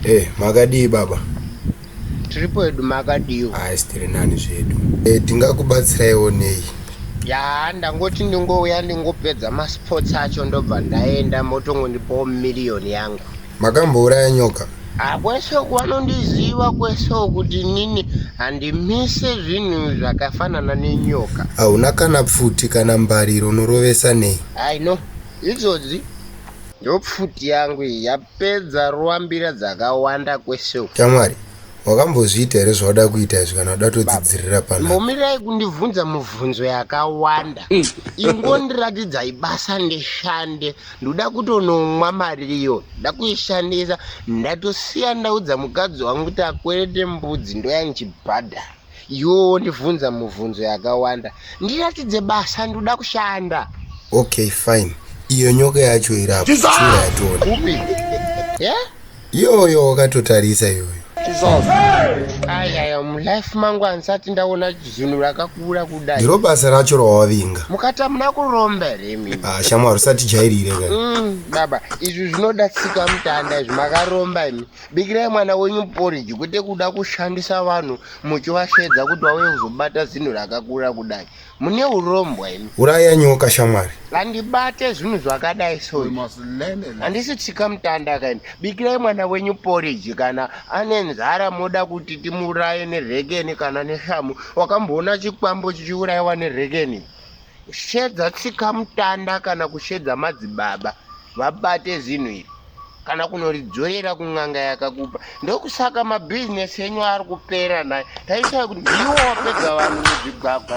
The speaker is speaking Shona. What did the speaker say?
Hey, eh, makadii baba? Tiri pedu makadiiwo. Hayi tiri nani zvedu. Hey, eh, tingakubatsiraiwo nei? Ya, ndangoti ndingouya ndingopedza masports acho ndobva ndaenda motongondipawo miriyoni yangu. Makambouraya nyoka? Ah, kwese uku vanondiziva kwese kuti nini handimise zvinhu zvakafanana nenyoka. Hauna kana pfuti kana mbariro unorovesa nei? I know. Idzodzi Ndopfuti yangu iyi yapedza ruambira dzakawanda kwese uku. Tamwari, wakambozviita here zvawada kuita izvi kana uda todzidzirira pano? Mbomirai kundibvunza mubvunzo yakawanda. Ingondiratidzai basa ndishande. Ndoda kutonomwa mari iyo. Nda kuishandisa. Ndatosiya ndaudza mukadzi wangu kuti akwerete mbudzi ndoya ndichibhadhara. yoo ndivhunza muvhunzo yakawanda ndiratidze basa ndoda kushanda okay fine iyo nyoka yacho irapuyatoni iyoyo wakatotarisa iyoyo ayaya mulife mangu andisati ndaona zvinhu rakakura kudai ndiro basa racho rawavinga mukati amuna kuromba here mimi ah, shamwari usatijairire ka mm, baba izvi zvinoda tsika mutanda izvi makaromba imi bikirai mwana wenyu poriji kwete kuda kushandisa vanhu muchivasheedza kuti vauye kuzobata zinhu rakakura kudai mune urombwa imi uraya nyoka shamwari handibate zvinhu zvakadai so handisi tsika mutanda kaini bikirai mwana wenyu poriji kana ane nzara moda kuti timuuraye nerekeni kana neshamu wakamboona chikwambo chichiurayiwa nerekeni Kushedza tsika mutanda kana kushedza madzibaba vabate zinhu iri kana kunoridzorera kun'anga yakakupa ndokusaka mabhizinesi enyu ari kupera naye taisai kuti ndiwo wapedza vanhu muzvigwagwa